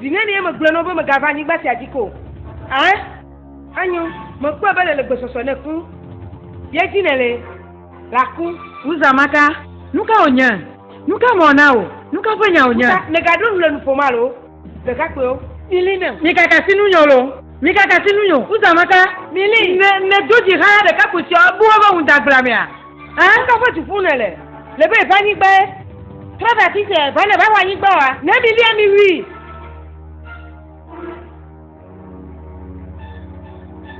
Vinyenye, megblɔe na wò be mègava anyigba sia dzi ke o. Ẽ? Enyo, mekpɔe be nèle gbesɔsɔ ne ku. Ye dzi nèle la ku. Uza Maka, nu ka wònye? Nu ka mewɔ na wò? Nu ka ƒe nya wònye? Uza, mègaɖo ŋu le nu ƒom alo? Ɖekakpuiwo, milĩ nam. Mikaka asi nu nyo loo. Mikaka asi nu nyo. Uza Maka, ne nèdo dzi xaa ɖekakpui siawo, ebu woƒe ŋudagblamea? Aa ŋdɔ ƒe du ƒu nèle, le be va anyigbae. Trɔ ɖe afi sia va ne va wɔ anyigba wa, ne mi lia mi wui.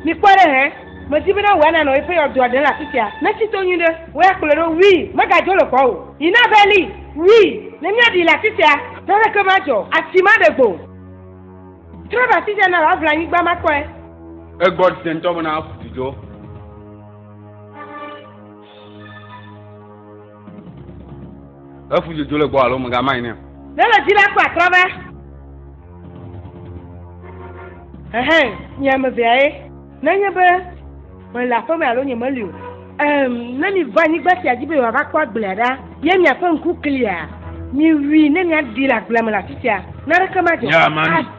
Mi kpɔ ɖe hɛ, me di be na wòa nanɔ eƒe yɔdoa ɖe le afi sia, ne tsi to nyui ɖe, wɔ ya kplɔe ɖo wui, me ga dzo le kɔ o. Yi na va li wui, ne mia ɖi le afi sia, naneke ma dzɔ, atsi ma ɖe gbo. Trɔ ɖe afi sia na wòa ʋla anyigba ma kpɔe. Egbɔ ɖi se ŋtɔ be na ƒu du dzo. Efu dzodzo le gbɔ alo megama yi ne. Ne le dzi la kpɔ atrɔ be. Ɛhɛn, nye ame vea ye. Nenye be mele aƒe me alo nye meli o. Ɛm, ne mi va anyigba sia dzi be yewoava kpɔ agblea ɖa, ye miaƒe ŋku klia, miwui ne miaɖi le agblea me le afi sia. Naneke madzɔ. Nye ame.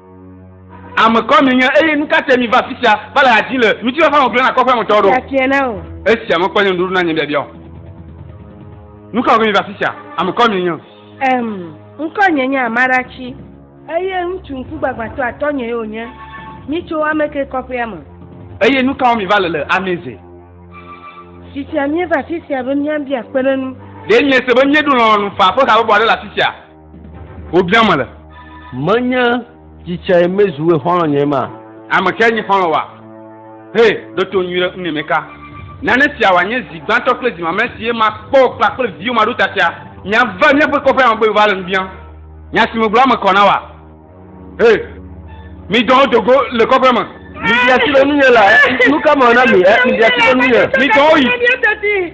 Ame kawo mienye, eye nu ka tae miva afi sia va le ha dzim le ŋutifafa me gblẽ na kɔƒea me tɔwo ɖo? Fiafia na wò. Esia mekpɔ nye nuɖoɖo na nye biabia o. Nu ka wɔge miva afi sia? Ame kawo mienye? Em, ŋkɔnye nye Amarachi, eye ŋutsu ŋkugbagbãtɔ atɔ̃nyee wònye. Mitso ame kae kɔƒea me? Eye nu ka wɔm miva le le Ameze? Fitia míeva afi sia be míabia kpeɖeŋu. Ɖe miese be míeɖo lɔlɔ̃nu faa ƒe habɔbɔ aɖe le afi sia? Wobia mele. Menye tsitsɛe mezu we xɔlɔ nye ma. Ame kae nye xɔlɔ wa? He, ɖo to nyui ɖe ŋneme ka. Nane sia wa nye zi gbãtɔ kple zi mamlɛ si ye ma kpɔ kpla kple viwo ma ɖo ta sia. Mia va mia ƒe kɔƒe ame be va le nu bia. Nya si me gblɔ ame kɔ na wa. He, mi dɔwo do go le kɔƒe me. Mi bia si be nu nye la, nu ka me na mi, mi bia si be nu nye. Mi dɔwo yi.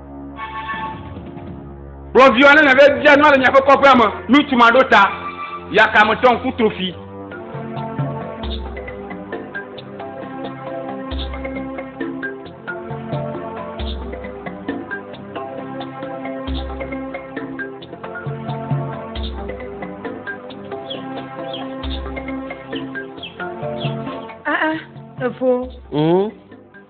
Kplɔvi aɖe nɔ vevia nua le miaƒe kɔƒea me. Ŋutsu ma ɖo ta yakametɔ ŋkutofi. Ah ah, efo. Mm.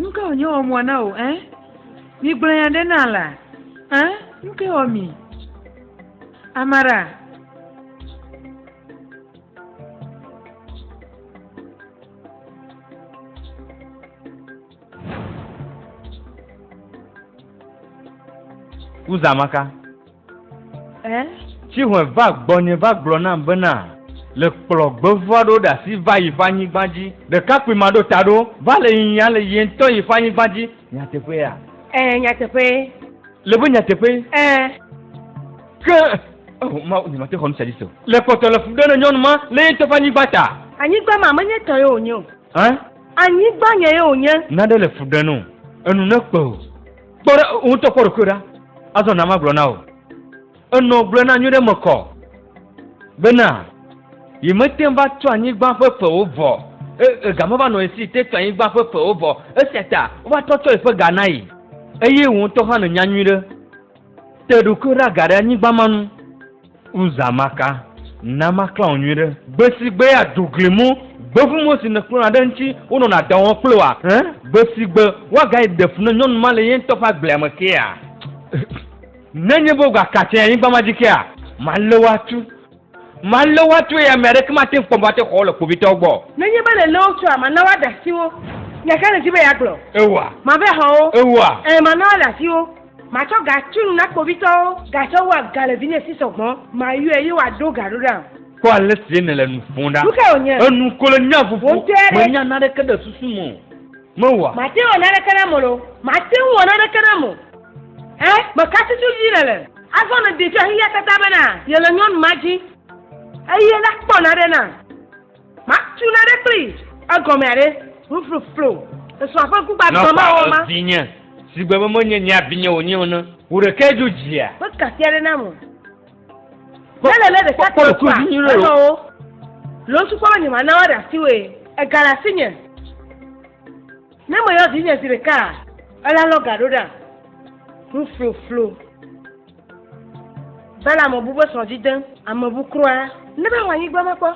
Nuka wònye wɔ mɔ na wò, ɛ? Migblɔ nya ɖe na la, ɛ? Nuka wɔ mi? Amara. Uzamaka. Eh? Tsihɔe va gbɔnye va gblɔ nam bena le kplɔ gbevua ɖo ɖe asi va yi ƒe anyigba dzi. Ɖekakpui ma ɖo ta ɖo va le yiyi ale ye ŋutɔ yi ƒe anyigba dzi. Nyateƒea? Eh, nyateƒee. Le be nyateƒee? Eh. Ke, oh, ma, nyemate xɔ nu sia dzi se o. Le kpɔtɔ le fu ɖe ne nyɔnu ma le ye ŋutɔ ƒe anyigba ta. Anyigba ma menye tɔ ye wònye o. Eh? Anyigba nye ye wònye. Nane le fu ɖe no. Enu ne kpe o. Kpɔ ɖe ŋutɔ kpɔ ɖokui ɖa. Azɔ na magblɔ na wò. Enɔ gblɔe na nyuiɖe me kɔ bena yi mete ŋu va tu anyigba ƒe ƒewo vɔ. E, ga meva nɔ esi te tu anyigba ƒe ƒewo vɔ. Esia ta wova trɔ tsɔ yeƒe ga na yi. Eye wò ŋutɔ hã nènya nyuiɖe. Te ɖokui ɖa ga ɖe anyigba ma nu. Uza maka, na maklã wò nyuiɖe. Gbesigbe àdo gli mu, gbevumo si nèklɔna ɖe eŋuti wonɔna dɔ wɔm kple wòa? Ẽ? Gbesigbe woagayi ɖe fu ne nyɔnu ma le ye ŋutɔ ƒe agblea me kea? Nenye be wogaka tsɛ anyigba ma dzi kea? Malé wò atu. Malé wò atu eye ame aɖeke mate ŋu kpɔ mɔ ate xɔ wò le kpovitɔwo gbɔ o. Nenye be nèlé wo tsɔa, mana woaɖe asi wo. Nya ka nèdi be yeagblɔ? Ewa. Mave xɔ wo. Ewa. Ẽ, mana woaɖe asi wo. Matsɔ ga tsu nu na kpovitɔwo, gake wo aga le vinye si sɔ gbɔ. Mayɔe ye wòaɖo ga ɖo ɖam. Kpɔ ale si nèle nu ƒom ɖa. Nu kae wònye? Enu ko le nya ƒoƒo. Wò ŋutɔe ɖe? Menya naneke ɖe susu me o. Mewɔa? Màte ŋu awɔ naneke nam o loo. Màte ŋu wɔ naneke nam o. Ẽ, meka susu dzi nèle. Azɔ nèdetso axixiatata bena yele nyɔnu ma dzi. Eye la, kpɔ naɖe nam. Matu na ɖe kpli. Egɔme aɖe, nufluflu. Esɔa ƒe ŋkugbã dɔ ma wɔ ma. Vinye, sigbe be menye nya vinye wònye o ne. Wò ɖekae dzo dzia. Ƒe kasia ɖe nam o. Ne le ne ɖeka kpɔ kua, enɔ wo. Le wo sukpɔ be nye ma na woaɖe asi woe. Ega le asi nye. Ne me yɔ vinye zi ɖeka a. Ela lɔ ga ɖo ɖa. Nufluflu. Bela ame bu be srɔ̃ dzi dem. Ame bu kura. Ne be wɔ anyigba ma kpɔ.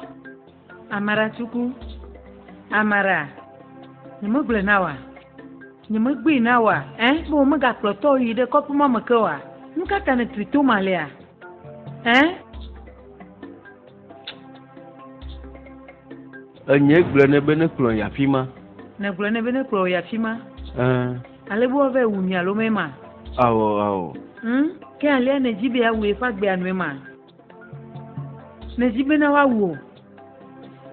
Amara tuku. Amara. Nye me gblɔe na wa. Nye me gbee na wa. Ɛ eh, be wo me ga kplɔ tɔ yi ɖe kɔpu ma me ke wa. Nu ka ta ne tui to ma lea? Ɛ. Eh? Enye gblɔ ne be ne kplɔ ya fi ma. Ne gblɔ ne be ne kplɔ ya fi ma. Ɛɛ. Ale be wòava ewu mi alo mɛ ma. Awɔ awɔ. Ŋ ke alia ne dzi be awu eƒe agbea nue ma. Ne dzi be na woawu o.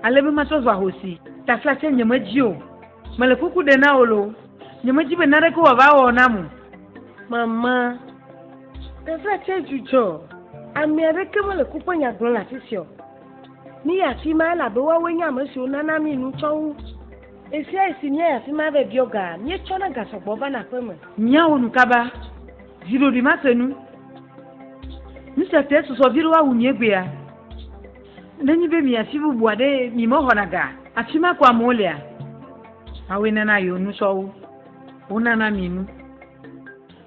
Ale be matrɔ zu ahosi. Taflatse nyemedzi o. Mele kuku ɖe na wò lo. Nyemedi be naneke wòava wɔ nam o. Mama, teƒea tsɛ dzudzɔ. Ame aɖeke mele ku ƒe nya gblɔm le afi sia o. Míyi afi ma elabe woawoe nye ame siwo nana mí nu tsɔ wu. Ɣesiaɣisi míayi afi ma vɛ biɔ ga, míetsɔna ga sɔ gbɔ vana aƒe me. Míawɔ nu kaba. Viɖoɖi mase nu. Nu sia tae susɔ viɖe woawu mí egbea. Nenye be míyi afi bubu aɖee, mímexɔna ga afi ma ko amewo lea? Awoe nana yewo nu tsɔ wo. Wonana mi nu.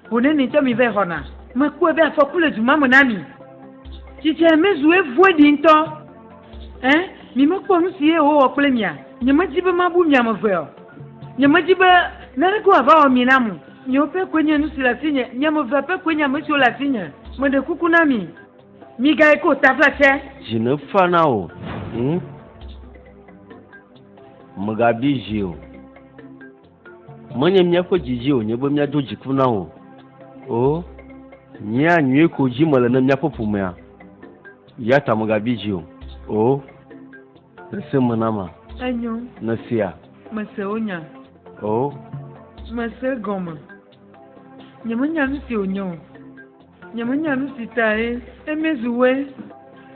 Ho ne nitsɔ mi vɛ xɔna. Mekpɔe be afɔku le du ma me na mi. Tsitsia mezu evoe ɖi ŋutɔ. Ẽ, mi mekpɔ nu si ye wòwɔ kple mia? Nyemedi be mabu mi ame eve o. Nyemedi be naneke wòava wɔ mi nam o. Miwo pɛ koe nye nu si le asinye. Mi ame evea pɛ koe nye ame siwo le asinye. Meɖe kuku na mi, migayi ke o taflatse. Dzi nefa na wò, ẽ. Mègabi dzi o. Menye míaƒe didi wònye be míado dziku na wò o. Nyea nyui ko dzi mele ne míaƒe ƒomea. Ya ta mègabi dzi o. O. Nèse me na ma. Enyo. Nèsea. Mese wò nya. O. Mese egɔme. Nyemenya nu si wònye o. Nyemenya nu si tae Emezu Wé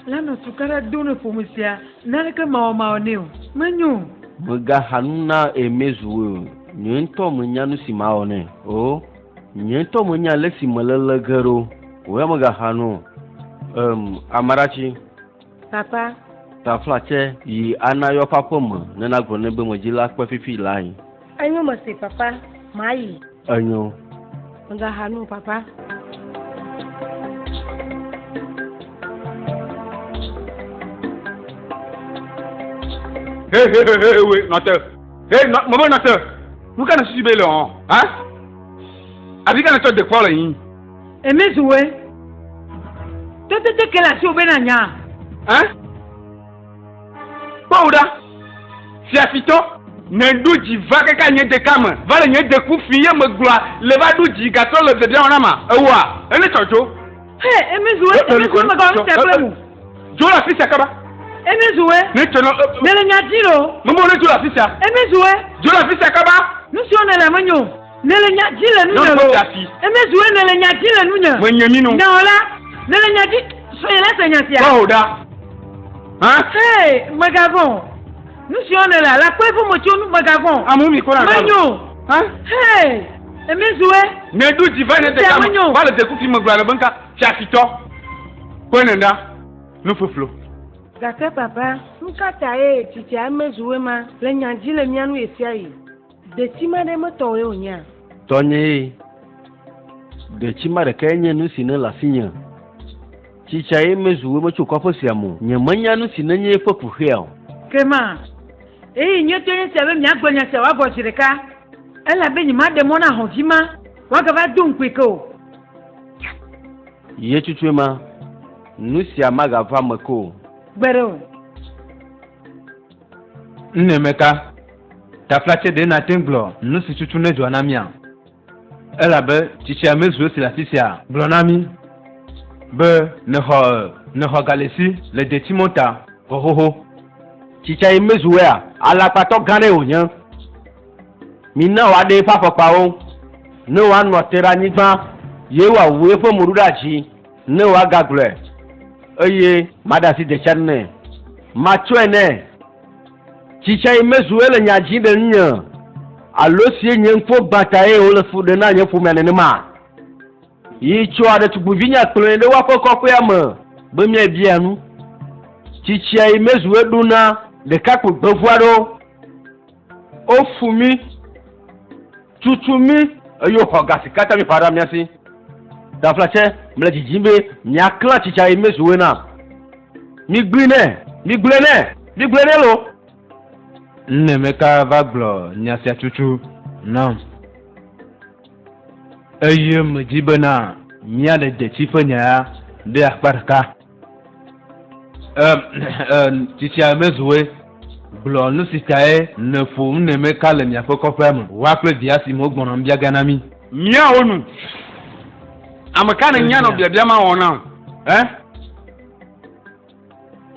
la nɔ tukaɖa dom ɖe ƒome sia naneke mawɔmawɔ nɛ o. Menyo o. Mègaxa nu na Emezu Wé o. Nye ŋutɔ menya nu si mawɔ nɛ o. Nye ŋutɔ menya ale si mele le ge ɖo o ya mègaxa nu o. Em, Amarachi. Papa. Tafla tsɛ yi ana yɔ ƒe aƒe me ne na gblɔ ne be me dzi la kpe fifi la yi. Enyo me se papa, ma yi. Enyo. Me ga ha nu papa. Hey, hey, hey, hey, wait, not there. Hey, not, mama, not there. Who can see bail on? Huh? Have you got to the calling? Emezuwe. Totete ke le asiwò be nànya. Ẽ? Kpɔwò ɖa, fiafitɔ. Meɖo dzi va kaka nye deka me, va le nye deku fi ye megblɔa le va ɖo dzi gatrɔ le biabia wɔna ma. Ewoa? Ene tsɔ dzo. He, emezuwe, emezuwe megɔa nu sia kple mu. Dzo le afisia kaba. Emezuwe. Ne tsɔ nɔ. Nèle nya dzi ɖo. Mebo ne dzo le afisia. Emezuwe. Dzo le afisia kaba. Nu siwo nèle menyo. Nèle nya dzi le nunye Nɔnɔme o. da si. Eme zu ene le nya dzi le nunye. Menye mi nu. Nyawɔla, nèle nya dzi. Srɔ̃nye la se nya sia. Kpɔ o ɖa. Hã? Hee, mègavɔ̃ o. Nu siwo nèle a, la kpɔe vome tso nu, mègavɔ̃ o. Amu mi kora na. Menyo. Hã? Hee, eme zu e. Ne ɖu dzi va ne te Sia kama. menyo. Va le te kufi me gblɔ ale be nka. Fiafitɔ. Kpɔe ne ɖa. Nu feflo. Gake, Papa, nu ka tae tsitsia eme zu e ma le nya dzi le mía nu ɣesiaɣi? Detsimaa ɖe me tɔwɔe wònyea? Tɔnyee. Detsimaa ɖekae nye nu si nele asinye. Tsitsae mezu wòe metso kɔƒe sia me o. Nyemenya nu si nenye eƒe kuxea o. Ke ma, ɣeyiɣi nyuitɔe nye esia be miagblɔ nya sia wòagɔ zi ɖeka, elabe nyemaɖe mɔ na ahɔ̃ vi ma wòagava do ŋukpee ke o. Ɣetutsue ma, nu sia magava eme ke o. Gbeɖe o. Nɛmeka, taflatse ɖe nate ŋu gblɔ nu si tutu nedzɔa na mía, elabe tsitsia mezu esi le afi sia. Gblɔ na mí be nèxɔ nèxɔ galesi le detsimɔ ta vɔ xoxo. Tsitsia ye mezu wea? Alakpatɔ gã aɖee wònye. Mina wòaɖe eƒe afɔkpawo ne wòanɔ te ɖe anyigba, ye wòawu eƒe mo ɖo ɖe adzi. Ne woagagblɔe, eye maɖe asi de tsan nɛ, matsɔe nɛ. Tsi tsae mezu ele nya dzi ɖe ŋunye, alo sie nye ŋkɔ gbã tae wole fu ɖem na nye ƒomea nenema? Yi tsɔa ɖetugbuivinya kplɔe ɖe woaƒe kɔƒea me be miabia nu. Tsi tsae mezu eɖo na ɖekakpui gbevu aɖewo. Wofu mí, tutu mí, eye woxɔ ga si katã míeƒã ɖa mía si. Taflatse, mele didim be miaklã tsi tsa yi mezuwe na. Migblẽ nɛ, migblẽ nɛ, migblẽ nɛ lo. Nunemeka va gblɔ nya sia tutu nam, eye medi bena míaɖe detsi ƒe nya ya ɖe akpa ɖeka. Tsitsia mezuwe gblɔ nu si tae nèƒo nu ne meka le miaƒe kɔƒea me woa kple via si me wogbɔna nu bia ge na mí. Míawo nu, ame ka nènya nɔ biabia ma wɔm na o? Ẽ?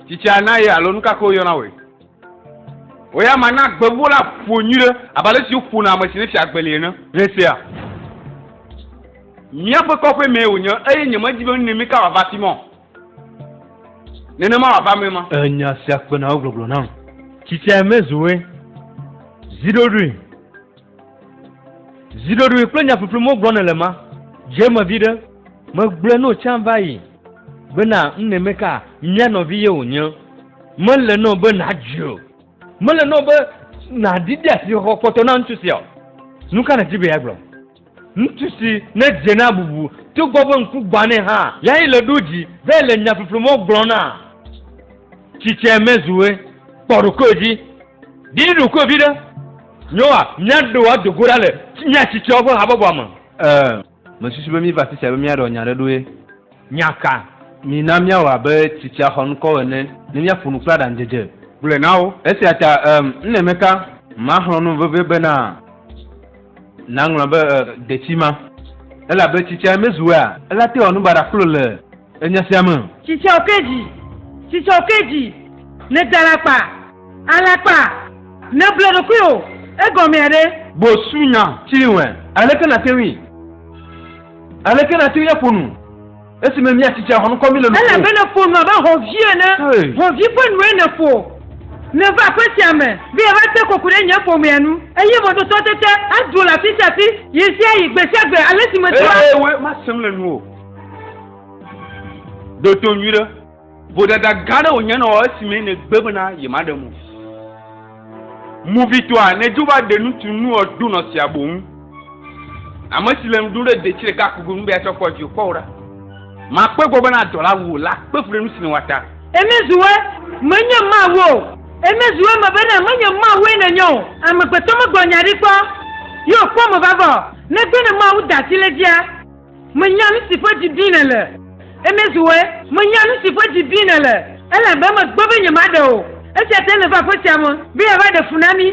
Tsitsia na ye alo nu ka ke woyɔna wɔe? O ya mana gbewo la ƒo nyui ɖe abe ale si woƒona ame si nefia agbeli ene. Heseya. Míaƒe kɔƒe mee wònye eye nyemedi be nu nɛ mika wòava afi ma o. Nenema wòava eme ma. E nya sia kpena wo gbɔgblɔ nam. Tsitsia mezu we. Zi ɖoɖoe. Ziɖoɖoe kple nyaƒiƒli mo gblɔ nèle ma, dze me viɖe. Megblɔe no tsã va yi bena ŋnɛ meka mía nɔvi ye wònye. Mele nɔ be nàdzui o. Mele nɔ be nàdi de asixɔxɔ kpɔtɔ na ŋutsu sia o. Nuka nèdi be yeagblɔ? Ŋutsu si nedze na bubu togbɔ be ŋku gbã nɛ hã yae le ɖo dzi be le nyaƒiƒli mo gblɔ na. Tsitsɛ me zu ɣe. Kpɔ ɖokoe dzi. Ɖi ɖokuiwò viɖe. Nyoa, míaɖo wò ado go ɖa le mía tsitɔwo ƒe habɔbɔa me. Ɛ̃, mesusu be míva afi sia be míaɖɔ nya aɖe ɖoe. Nya ka? Mina míawɔ abe tsitsia xɔŋkɔwo ene ne míaƒo nu kple aɖaŋudzedze. Gblɔe na wo. Esia ta, ɛ̃, ne meka, maxlɔ̃ nu vevie bena. Nàŋlɔ be detsi ma, elabe tsitsia mezu ea, elate wòanu baɖa kplo le enya sia me. Tsitsia oke dzi, tsitsia oke dzi, nèda alakpa, alakpa, nèble ɖokuiwò, egɔmea ɖe? Gbosunya tsri ŋɔe, aleke nàte ŋui, aleke nàte ŋui aƒo nu? Esime míatsi tsia xɔnukɔ mí le nu ƒom. Ele be nèƒo nu abe hɔ̃vi ene. Hɔ̃vi ƒe nue nèƒo. Ne va aƒe sia me be yeava te koko ɖe nye ƒomea nu eye mɔdotɔ tete aɖu le afi sia afi ɣesiaɣi gbe sia gbe ale si medi la. Eye masẽ le nuwò. Ɖo to nyuiɖe. Vodada gã aɖe wònye ne wɔ esimee nègbe bena yemaɖe mo. Movitɔa, nèdzo va ɖe ŋutsu nua ɖo nɔ sia boŋ. Ame si le nu ɖum ɖe detsi ɖeka ko gonu be yeatsɔ akpɔ dziwò. Kpɔ ɖa, makpe egbɔ bena dɔla wuwò la kpe fu ɖe nu si nèwɔa ta. Eme zu ɣe, menye Mawu o. Eme zu eme bena menye Mawue nènye o. Amegbetɔ megblɔ nya ɖi kpɔ, ye wòkpɔ eme vavã o, negbe ne Mawu da asi ɖe edzia. Menya nu si ƒe dzi dim nèle. Emezuwe, menya nu si ƒe dzi dim nèle, elabe megbe be nyemaɖe o. Esia tae nèva aƒetsia me, be yeava ɖe fu na mí.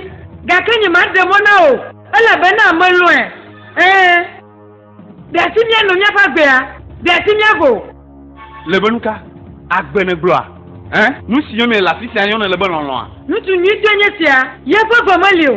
Gake nyemaɖe mɔ na wò o, elabena melɔ̃e. Ɛ̃, ɖe asi míano míaƒe agbea? Ɖe asi míavo? Le be nuka? Agbe nègblɔa? Ɛ̃, nu si yɔm míele le afisia yɔnɛ le be lɔlɔ̃a? Ŋutsu nyuitɔe nye esia, ye ƒe ve meli o.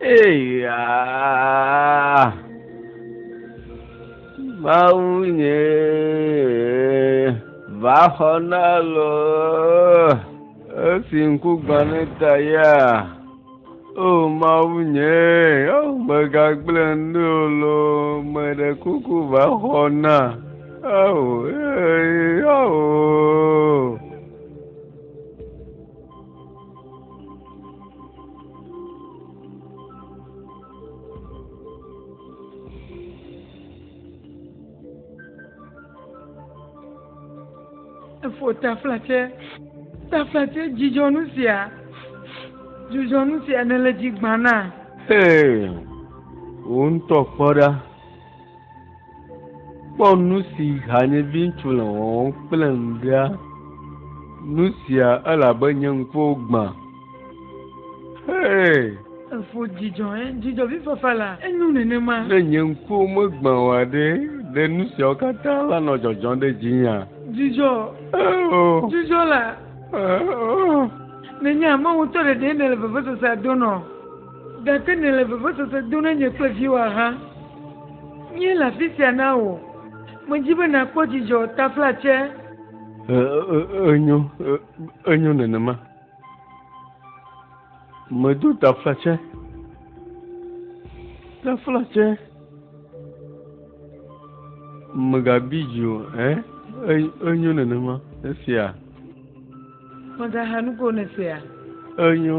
Eyaa. Mawu nye va xɔ na lɔ esi ŋku gbã ne ta ya. O Mawu nye o megagblẽ ne o lɔ meɖe kuku va xɔ na. Ao ee ao. efo taflatse taflatse dzidzɔnu sia dzidzɔnu sia nele dzi gbana. Hey, wò ŋutɔ kpɔ ɖa. Kpɔ nu si hanyeviŋutsu le wɔwɔm kple ŋɖea. Nu sia elabe nye ŋkuwo gbã. Hee! Efo dzidzɔ he dzidzɔvifafa la. Enyo nenema. Ne nye ŋkuwo megbã oa ɖe, ɖe nu siawo katã lanɔ dzɔdzɔm ɖe dzinyea? Dzidzɔ! Oh! Dzidzɔ la! Oh! Nenye amewo ŋutɔ ɖeɖee nèle vevesesea dom nɔ Gake nèle vevesese dom ɖe nye kple viwò axa. Míele afi sia na wò. Medi be nàkpɔ dzidzɔ taflatse. Enyo, enyo nenema. Medo taflatse, taflatse. Mègabi dzi o, ẽ? Enyo nenema. Esia. Mègaha nu ko ne sea. Enyo.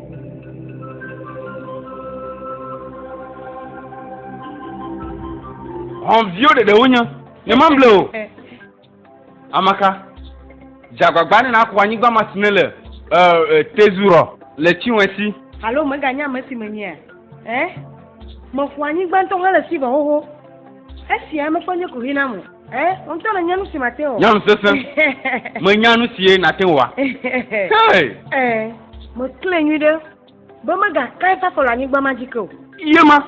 Hɔnviwo ɖeɖe wonye. Nyemamble o. Amaka. Dzagbagba ne naku anyigba ma si ne le tezurɔ le tiwɛsi. Alo meganya ame si menyea? Ɛ? Meku anyigba ŋutɔ hele si me xoxo. Esia mekpɔ nye kuxi nam o. Eh, ŋutɔ le nyanu si mate wɔ. Nyanu sese. Me nyanu sie nate wɔ. Hey. Eh, me kle nyui ɖe. Be me ga kai fafɔ le anyigba ma jike o. Ye ma.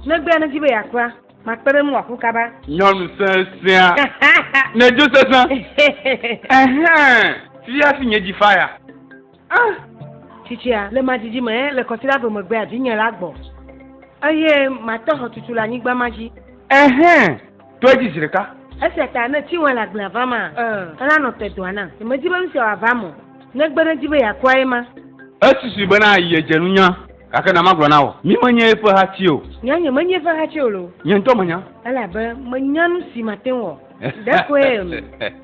Ne gbea ne ji be ya kua, ma kpe ɖe mu aku kaba. Nyanu sesea. Ne jo sese. Eh, fia si nye ji faya. Ah, tsitsia le ma didi me le kɔsila do megbea vinye la gbɔ, eye mate xɔtutu le anyigba ma dzi. Ɛhɛn, tɔe dzi zi ɖeka. Esia ta ne tsi wɔe le agblea va ma, elanɔ te dɔa nam. Nyemedi be nusia wòava me o, negbe ne edi be yeakua ye ma. Esusui bena yedze nunya, gake na magblɔ na wò, mi menye eƒe hati o. Nya nye menye eƒe hati o loo. Nye ŋutɔ menya. Elabe menya nusi mate ŋu wɔ. ɖekoe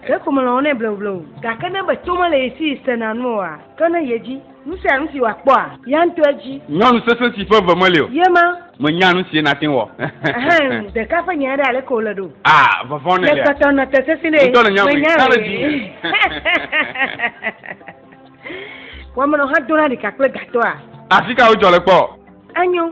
ɖeko melɔ̃ nɛ bleublewu gake ne be to mele ye si sena nu oa ke ne ye dzi nu sia nu si wòakpɔa ya ŋutɔ edzi. Nyɔnu sesẽ si ƒe ve meli o. Ye ma. Mènya nu sie nàte ŋu wɔ. Ɛhɛn, ɖeka ƒe nyae ɖe aleke wòle ɖo? A, vɔvɔ̃ nelia. Le kpɔtɔ nɔte sesĩ ɖe. Ŋutɔ nènya mea. Menya ɣee. Wɔmenɔ hã dona ɖika kple gatɔa? Afika wodzɔ le kpɔ? Enyo.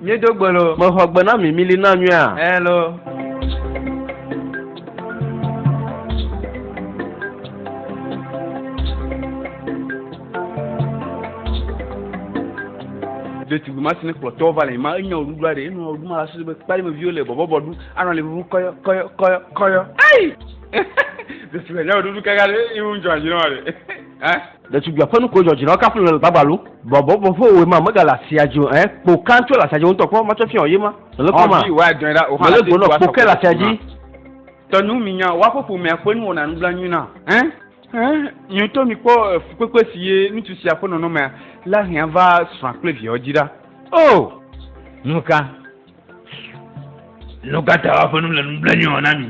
Míedo gbe lo. Mexɔ gbe na mi, mili na nyuia. Hello. ɖetugbi ma si ne kplɔtɔwo va le ma enya o ɖuɖu aɖe enɔ ɖu ma la sese be kpali me viwo le bɔbɔbɔ ɖu anɔ le ʋuʋu kɔyɔ kɔyɔ kɔyɔ kɔyɔ ayi ɖetugbi enya o ɖuɖu kaka ɖe iwu ŋdzɔ anyi nɔ wa ɖe ɛ. Ɖetugbia ƒe nuko dzɔ dzi na kafu le gbagbalu. Bɔbɔ bɔbɔ wo ma mega la sia jo eh kpo kan tso la sia jo ntɔ kpɔ ma tɔ fiɔ ye ma. Le kpɔ ma. Wa dɔn ra o ha. Le gbɔnɔ kpo ke la sia ji. Tɔ nu mi nya wa popo mɛ ƒe nu wɔna nu bla nyuna. Eh eh mi ntɔ mi kpɔ fukpekpe si ye nutu sia ƒe nɔnɔ mɛ la hɛn va srɔa kple viɔ ji ra. Oh! Nuka? Nu ka ta woaƒe nu le nublanui na mi?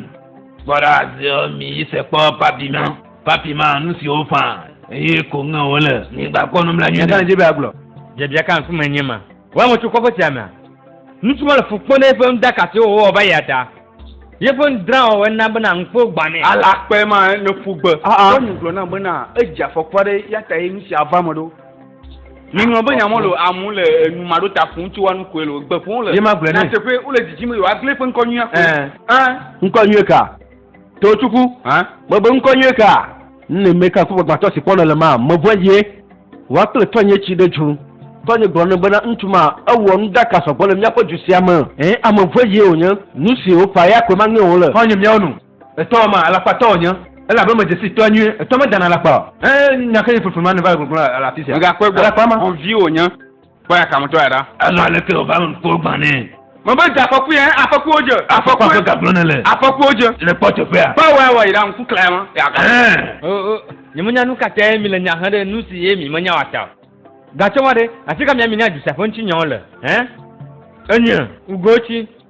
Kpɔ ɖa ziɔ mi yi se kpɔ papi ma. Papi ma nu siwo fã eye ko ŋe wole. Mi gbakpɔ nublanui. Míaƒe dzi be agblɔ. Biabia ka ŋkume nye ma? Wɔ ame tso kɔƒe sia mea? Ŋutsu ma le fu kpɔm ɖe eƒe nuɖaka siwo wòwɔ va yia ta. Yeƒe nudrawɔwɔe na bena ŋkuwo gbãnɛ. Alakpae ma ne ƒu gbe. Nyɔnu gblɔ nam bena edze afɔku aɖe eya tae nu sia va eme ɖo. Miŋlɔ be nya mɔlo amu le enu maɖo ta ƒom tso wa nukue lo gbe ƒom le. Ye ma gblɔ ne. Nateƒe wole dzidzim be yewoagblẽ eƒe ŋkɔ nyuia ko. Ɛɛ. Ɛɛ. Ŋkɔ nyuie ka? Totuku. Hã? Mebe ŋkɔ nyuie ka? Nne meka ŋkugbagbatɔ si kpɔnɔ le ma, mevɔ̃e ye. Wa kple tɔnye tsi ɖe dzu. Tɔnye gblɔ nɛ bena ŋutsu ma, ewɔ nuɖaka sɔgbɔ le míaƒe du sia me. Ɛɛ, ame vɔ̃e ye wònye. Nu si wòƒãe ya koe maŋe wòle. Xɔ̃nye míawo nu. Etɔ ma alakpa tɔ wònye, elabe medze sii tɔa nyuie. Etɔ medana alakpa o. Ẽ, nya kae nye flifli ma nèva le gblɔgblɔm le afisia? Mègakpɔe gbɔ o. Alakpa ma. Xɔvi wònye. Kpɔ ya kametɔ ya ɖa. Elɔ̃ aleke wòva me ŋkuwo gbã nɛ. Mebe dze afɔkui ẽ, afɔkuiwo dze. Afɔkua ƒe ga gblɔ nèle. Afɔkuiwo dze. Le kpɔ teƒea. Kpɔ awɔe awɔe yi ɖa, ŋku klaya ma ya ga. Ẽ. O, o, nyemenya nukatae mile nya hem ɖe nusi ye mi menya o a ta o. Gatsɔmɔ ɖe, afika mia mi na dzesiaƒeŋutinyawo le? Ẽ? Enye. Ŋugowo tsi.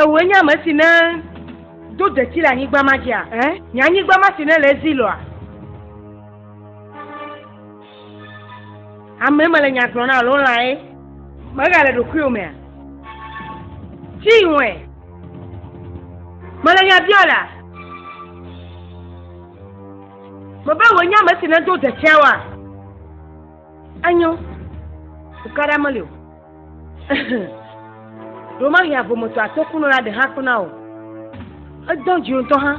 Ewoe nye ame si ne do detsi le anyigba ma dzia? Eh? Nye anyigba ma si ne le ezi lɔa? Ame me le nya gblɔ na alo lãe? Mega le ɖokuiwo mea? Tsi wɔe. Mele nya biɔ la. Mebe woe nye ame si ne do detsia wa? Enyo. Tukaɖa meli o. Ɖo ma hia vometɔ atokuno la ɖe hã kpena o. Edɔ dzi ŋutɔ hã.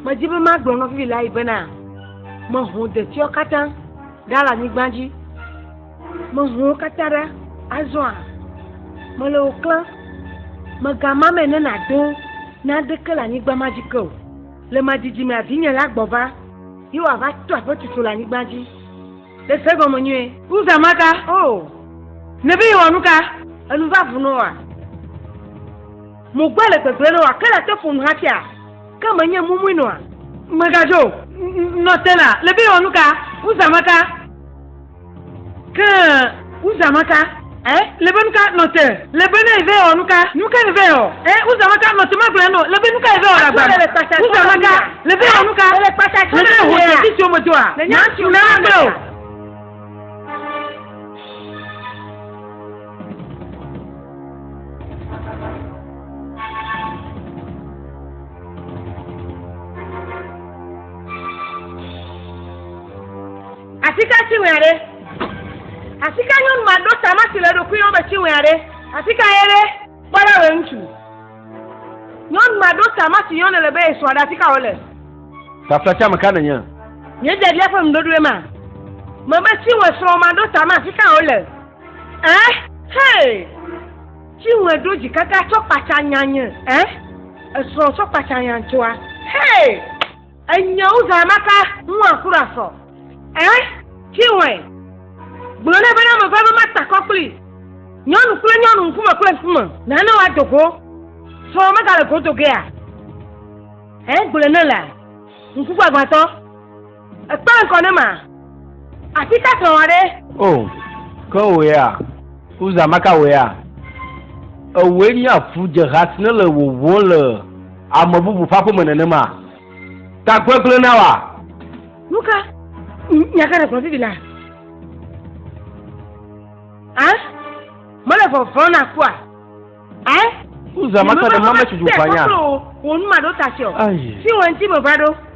Me dzi be ma gblɔ nɔvi la yi bena me ho detiɔ katã ɖa le anyigba dzi. Me ho katã ɖa azɔa. Me le o klan. Me ga ma me ne na do na ɖeke le anyigba ma dzi ke o. Le ma didi me avinye la gbɔ va. Ye wòava to aƒe tutu le anyigba dzi. Ɖe se egɔme nyuie. Nu zã ma ka? O! Nèbe yewɔ nu ka? Enu va vu nɔ wòa? Mo gbe le gbegblẽ nɔ wòa? Ke nàte ƒo nu hafia? Ke menye mumui nɔa? Mègadzo o. Nɔ te la, nèbe yewɔ nu ka? Nu zã ma ka? Ke Uza maka, ɛ, lebe nuka nɔte, lebe ne eve ɔ nuka, nuka ne ve ɔ, ɛ, Uza maka nɔte magblẽ nɔ, lebe nuka eve ɔ la gba, Uza maka, leve ɔ nuka, lebe ne ho te titi ome doa, na tu na agbe o. Asika tsi wɛa ɖe? Asika nyɔnu ma ɖo tama si le eɖokui nɔ be tsi wɛa ɖe? Asika ye ɖe? Kpɔ ɖa wɛ ŋutsu. Nyɔnu ma ɖo tama si yɔnɛ le be ye srɔ̃ ɖe asika wo le. Tafla tsi ame ka nènye? Nye biabia ƒe nuɖoɖoe ma. Me be tsi wɛ srɔ̃ ma ɖo tama asika wo le. Eh? Hey! Tsi wɛ ɖo dzi kaka tsɔ kpatsa nya nye. Eh? Esrɔ̃ tsɔ kpatsa nya ŋtsua. Hey! Enye wu zã ma ka ŋua ku ɖa sɔ. Ɛ? Chinwe. Gblɔ nɛ bena meva be ma takɔ kpli. Nyɔnu kple nyɔnu, ŋkume kple ŋkume. Nane wa do go. Srɔ̃ me gale go do gea? Ɛ? Gblɔ nɛ la. Ŋku gbagbãtɔ. Ekpe le ŋkɔ ne ma. Afi ka srɔ̃ wa ɖe? O, ke wò ya, wu zã ma ka wò ya. Ewɔe nye afu dze ha si ne le wowɔ le. Ame bubu ƒe aƒeme nenema. Ta gbegblẽ na wa. Nu ka? Nya ka ɖegblɔ vivi la? A? Mele vɔvɔ̃ na kua? A? Uzama ta ɖe mame tsi dzi ʋanya. Wò nu ma ɖo ta sio. Si wò ŋuti me va ɖo.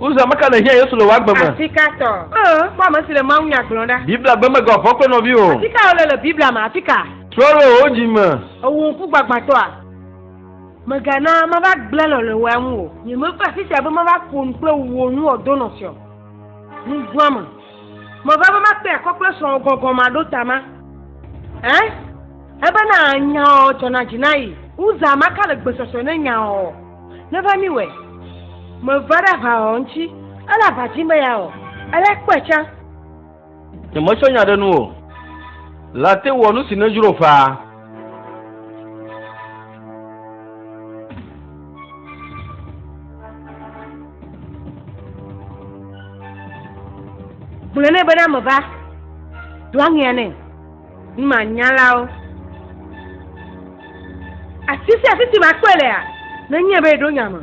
Uza meka le hiã Yesu le wò agbe me. Afika tɔ. Ee, kpɔ ame si le Mawu nya gblɔm ɖa. Biblia gbe mega ɔvɔ kple nɔvi o. Afika wole le Biblia me? Afika. Trɔ ɖe wò dzi me. Ewò ŋku gbagbãtɔa, mègana mava gblẽ lɔlɔ̃wòa ŋu o. Nyemeva afi sia be mava ƒo nu kple wò nu o, do nɔsrɔ̃. Nuvɔ̃a me. Meva be makpe akɔ kple srɔ̃wò gɔgɔmaɖotama. Ẽ? Ebena nyaɔ dzɔna dzi na yi. Uza maka le gbesɔsɔe ne nyaɔ. Neva mi wɛ. Me va ɖa va ɔ ŋci, ele ava dzi me ya ɔ, ele kpɔɛ can. Nye me tsɔ nya ɖe nu o. La te wɔ nu si ne dzro ƒaa. Gblɔe nɛ bena meva, do aŋea nɛ. Numanyalawo. Afi sia afi si makpɔe lea, nenye be eɖo nya me.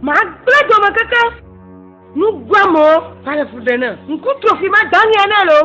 Magblẽ dome keke. Nuguamewo va le fu ɖe ne ŋku tro fi ma dɔni ene loo.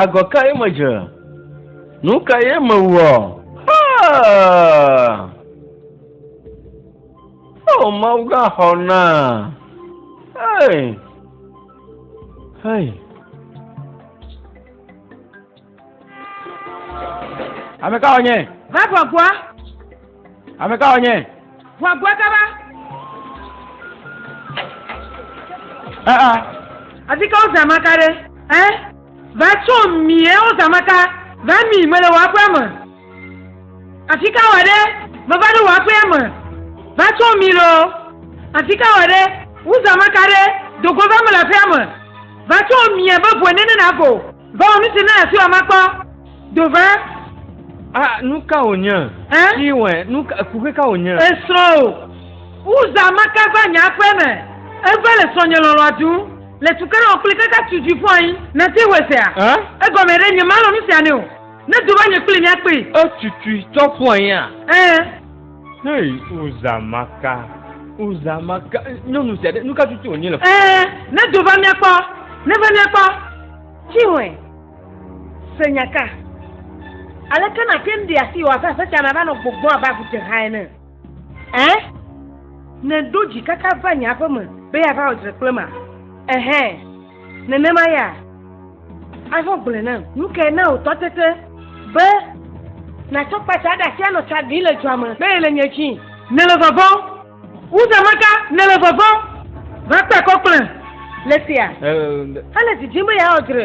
Agɔ kae medze? Nu kae mewɔ? Ah! Oh, Mawu gã xɔ na. Hey! Hey! Ame ka wònye? Vavakua Ame ka wònye? Ʋua gbɔe kaba. Aa. Afi ka wozã maka ɖe? Ɛ? Va tso mi ɛ wozã maka. Va mi mele wò aƒea me. Afi ka wɔ ɖe? Meva ɖo wò aƒea me. Va tso mi loo. Afi ka wɔ ɖe? Wozã maka ɖe. Dogo va mele aƒea me. Va tso mi ɛ be ʋue nene nago. Vɔ nu si na afi wa makpɔ do va. A nu ka wònye? Ɛ? Ti wɛ nu ka kuxe ka wònye? Esrɔ̃ o. Uza maka va nye aƒe me. Eva le srɔ̃ nye lɔlɔa tu. Le tu kere ɔkpli kaka tu dzi fɔ anyi. Na ti wɛ sea. Ɛ? Egɔme ɖe nye malɔ nu sia ne o. Ne do va nye kpli mia kpli. Etutui tɔ fɔ anyi a? Ɛ. Hey, Uza Maka. Uza Maka. Nyɔnu sia ɖe, nu ka tutu wònye le. Ɛɛ, ne do va míakpɔ. Ne va míakpɔ. Tsinwe. Se nyaka. Aleke nàte ŋu ɖi asi wò abe aƒetya me ava nɔ gbɔgbɔm abe agudzeha ene? Ɛɛ, nèɖo dzi kaka va nye aƒe me be yeava wɔ dzre kple ma? Ɛhɛɛ. Nenema ya, azɔ gblɔe nam. Nu kae na wòtɔ tete be nàtsɔ kpatsa ɖe asi anɔ tsa ɖim le dua me be yele nye dzi? Nèle vɔvɔ̃m wu zã ma ka? Nèle vɔvɔ̃m va kpe kɔ kplem le sia hele didim be yeawɔ dzre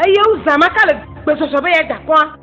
eye wu zã ma ka le gbesɔsɔ be yeada akɔa?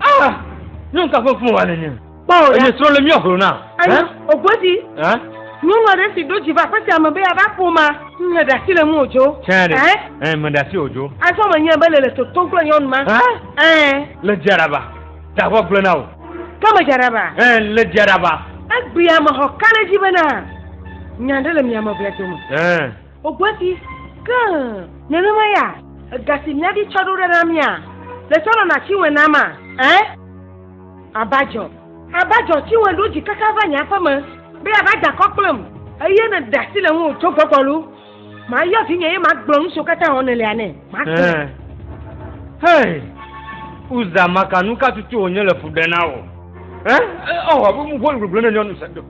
Ah, nyɔnu ka ƒe fun wa nene? Kpɔwò ɖa. Enye srɔ̃ le mía hlo na. Ayi, ògodi. Nyɔnu aɖe si ɖo dzi va aƒe sia me be yeava ƒoma. Mele ɖe asi le ŋu o dzo. Tsɛ ɖe. Ɛɛ, meɖe asi o dzo. Azɔ menyae be nèle totom kple nyɔnu ma. Ɛɛ. Le dzia ɖaba. Ɖavɔ gblẽ na wò. Ke medzia ɖaba. Ɛɛ, le dzia ɖaba. Egbi amexɔ ka ɖe edzi bena, Nya aɖe le mia me ʋlɛ dome. Ɛɛ. Wògbe ɖi, Ke nenema ya ega si míaɖi tsɔ ɖo ɖa na mía le tsɔ nɔna Chinwe nam ma? Ẽ? Abajɔ! Abajɔ! Chinwe ɖo dzi kaka va nye aƒe me be yeava da akɔ kplem. Eye nèɖe asi le ŋuwò tso gbɔgbɔ loo. Mayɔ vinye eye magblɔ nu siwo katã wɔm nèlea nɛ. Magblɔe. Ẽ? Hey! Uza maka nu ka tutu wònye le fu ɖem na wò? Ẽ? Ɔ, ʋuʋu gbogblɔ nenye ɔ, nu se do.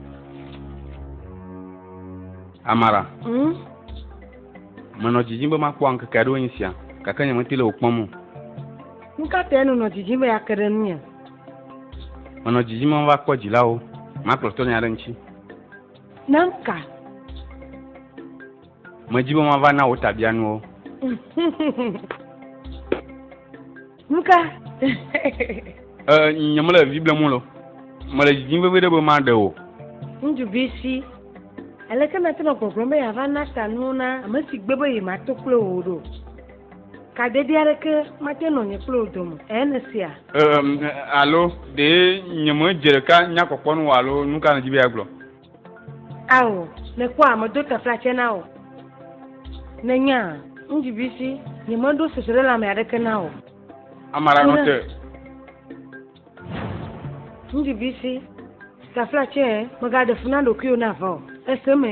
Amara. Mm? Menɔ dzidzim be makpɔ ankeke aɖewo nye sia, gake nyemete le wò kpɔm o. Nu ka tae nènɔ dzidzim be yeake ɖe ŋunye? Menɔ dzidzim be mava kpɔ dzilawo, makplɔ tɔnye aɖe ŋuti. Nam ka? Medi be mava na wò tabianuwo. Nuka? Nye mele vi blem o. Mele dzidzim vevi ɖe be maɖe o. Ŋutsu vi si. Aleke nate nɔ gbɔgblɔm be yeava na ta nuwo na ame si gbe be yemato kple wò ɖo? Kadede aɖeke mate nɔ nye kple wò dome, ẽ nèsea? Alo ɖe nyemedze ɖeka nya kpɔkpɔ nu o alo nuka nèdi be yeagblɔ? Ao, mekpɔa medo taflatse na o. Nènya, ŋdzibisi, nyemeɖo sese ɖe lãme aɖeke na o. Amara nɔ te. Ŋdzibisi, taflatse, mègaɖe fu na ɖokuiwò na va o. Èse me?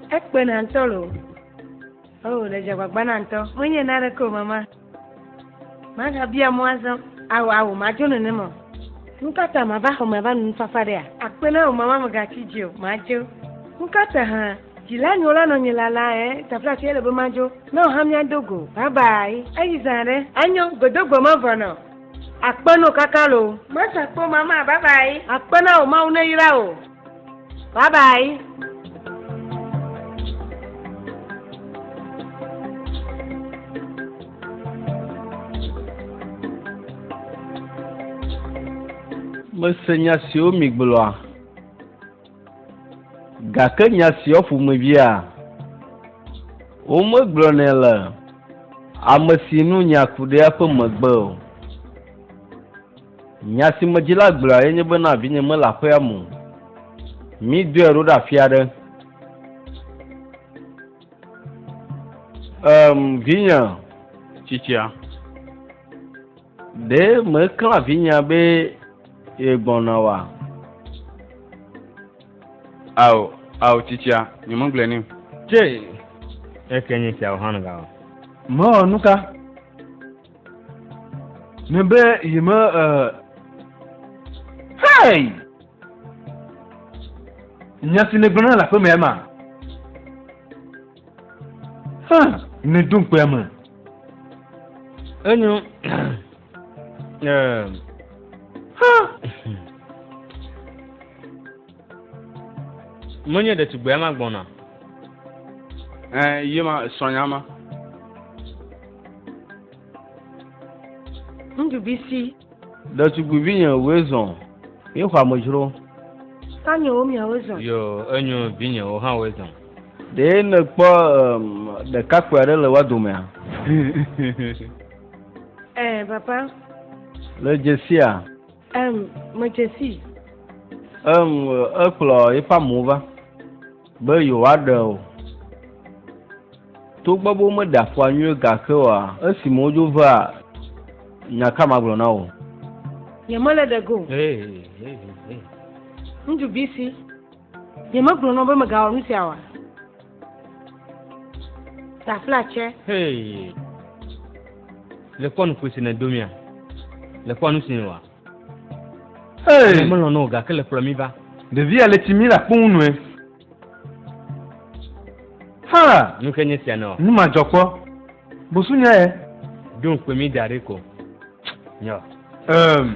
Ekpe na ŋutɔ lo. Oh, le dze agbagba na ŋutɔ. Menye na ɖeke o, mama. Magabia mɔ azɔ. Awo, awo, madzo nene mɔ. Nukata mava xɔ mava nu nufafa ɖea? Akpe na wò mama megatsi dzi o, madzo. Nukata hã dzila nyo la nɔ nye lala ɛ tafla tsi ele be madzo. Na wò hã míado go. Bye bye. Eyi zã ɖe. Anyo, gbedogbe mevɔ nɔ. Akpe no kaka lo. Mesa kpe o, mama, bye bye. Akpe na wò, Mawu neyra wò. Bye bye. mese nya siwo migblɔa gake nya siwo ƒomevia womegblɔnɛ le ame si nu nya ku ɖe eƒe megbe o Nya si me dzila gblɔa ye nye be, Na vinye mele aƒea me o. Mídɔe ɖo ɖe afi aɖe. Em, vinye tsitsia, ɖe mèklã vinyea be yegbɔna oa? Ao, ao, tsitsia, nyemegblɔe nɛ o. Tse, eke nye esia o hã ga o. Mewɔ nuka? Ne be yi me eh, hey! Nya si ne gblɔna le aƒe me ma. Ha, ne dum kpea me. Enyo. Eh. Ha. Menye ɖetugbea ma gbɔna. Ɛ yi ma srɔ̃nya ma. Ŋuɖuvi si. Ɖetugbivi nye woe zɔn. Mi xɔ amedzro. Ta nye wo miawo zɔn. Yo enyo vi nye wo hã woe zɔn. Ɖe ne kpɔ ɖekakpui aɖe le wa domea? Ɛ papa. Le dzesia. Em, medze sii. Em, ekplɔ eƒe amewo va be yewoaɖe o. Togbɔ be womeɖe afɔa nyuie gake oa, esime wodzo vea, nya ka magblɔ na wò? Nyemele ɖe go o. Ŋuɖu bisi. Nyemegblɔ na wò be megawɔ nu sia oa? Taflatse. Hey. Le kpɔ nukui si nèdo mía. Le kpɔ nu si nèwɔa. Hey. Melɔ̃ na wò gake le kplɔ mi va. Ɖevia le tsi mi le akpo ŋu nɔe. Ha! Nu ke nye sia nɔ. Nu ma dzɔ kpɔ. Bosu nya ye. Ɖo ŋkpe mi da ɖi ko. Nyɔ. Um.